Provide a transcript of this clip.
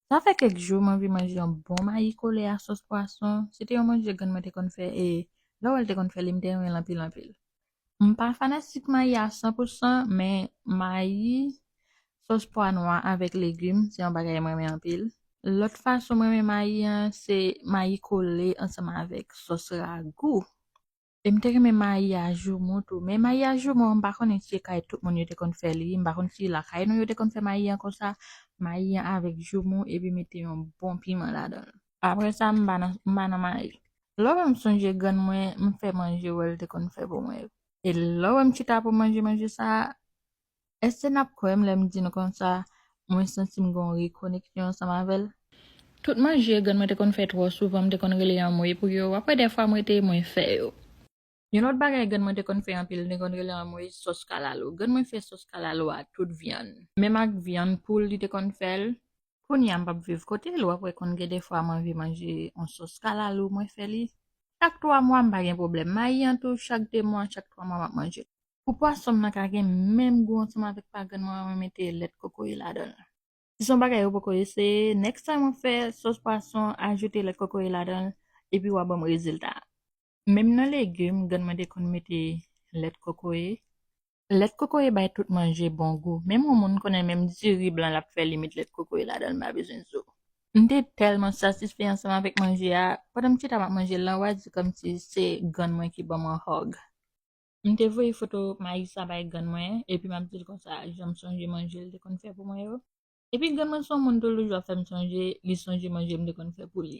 Sa fè kèk jou m anvi manje yon bon mayi kole a sòs pwason, se te yon manje grann mwen te konn fè e lè w wè l te konn fè li m te renmen l anpil anpil. M pa fanatik mayi a san pou san men mayi sòs pwa nwa avèk legim se yon bagay m renmen anpil. Lòt fason m renmen mayi an se mayi kole ansanm avèk sòs ragou. E m te renmen mayi a joumou tou. Men mayi a joumou an m pa konnen si e kay tout moun yo te konn fè li. M pa konn si lakay nou yo te konn fè mayi an konsa. Mayi an avèk joumou epi mete yon bon piman ladan l. Apre sa m ba m ba nan mayi. Lè w wè m sonje grann mwen m fè manje wè l te konn fè pou mwen. E lè w wè m chita pou manje manje sa a Èske n ap kwè m lè m di n konsa mwen santi m gen yon rekoneksyon ansanm avè l? Tout manje grann mwen te konn fè twò souvan m te konn rele anmwey pou yo, apre dèfwa m rete mwen fè yo. Yon lòt bagay grann mwen te konn fè anpil m te konn rele anmwey sòs kalalou. Grann mwen fè sòs kalalou a tout vyann. Menm ak vyann poul li te konn fè l. Kounye a m pap viv kote l ou apre konn gen dèfwa m anvi manje yon sòs kalalou mwen fè li chak twa mwa m pa gen pwoblèm. Mayi an tou chak de mwa chak twa mwa m ap manje l. Pou pwason m nan ka gen menm gou ansanm avèk pa grann mwen an mwen mete lèt kokoye ladan l. Si son bagay ou poko eseye next time wap fè sos pwason ajoute lèt kokoye ladan l epi wa banm rezilta a. Menm nan legum grann mwen te konn mete lèt kokoye. Lèt kokoye bay tout manje bon gou menm yon moun konnen menm diri blan lap fè li met lèt kokoye ladan l m pa bezwen zo. M te tèlman satisfè ansanm avèk manje a pandan m chita map manje l lan wa di kòmsi se grann mwen ki banm yon hug. M te voye foto mayi sa bay grann mwen, epi m ap di l konsa jan m sonje manje l te konn fè pou mwen yo. Epi grann mwen se yon moun toulouse, l ap fè m sonje li sonje manje m te konn fè pou li.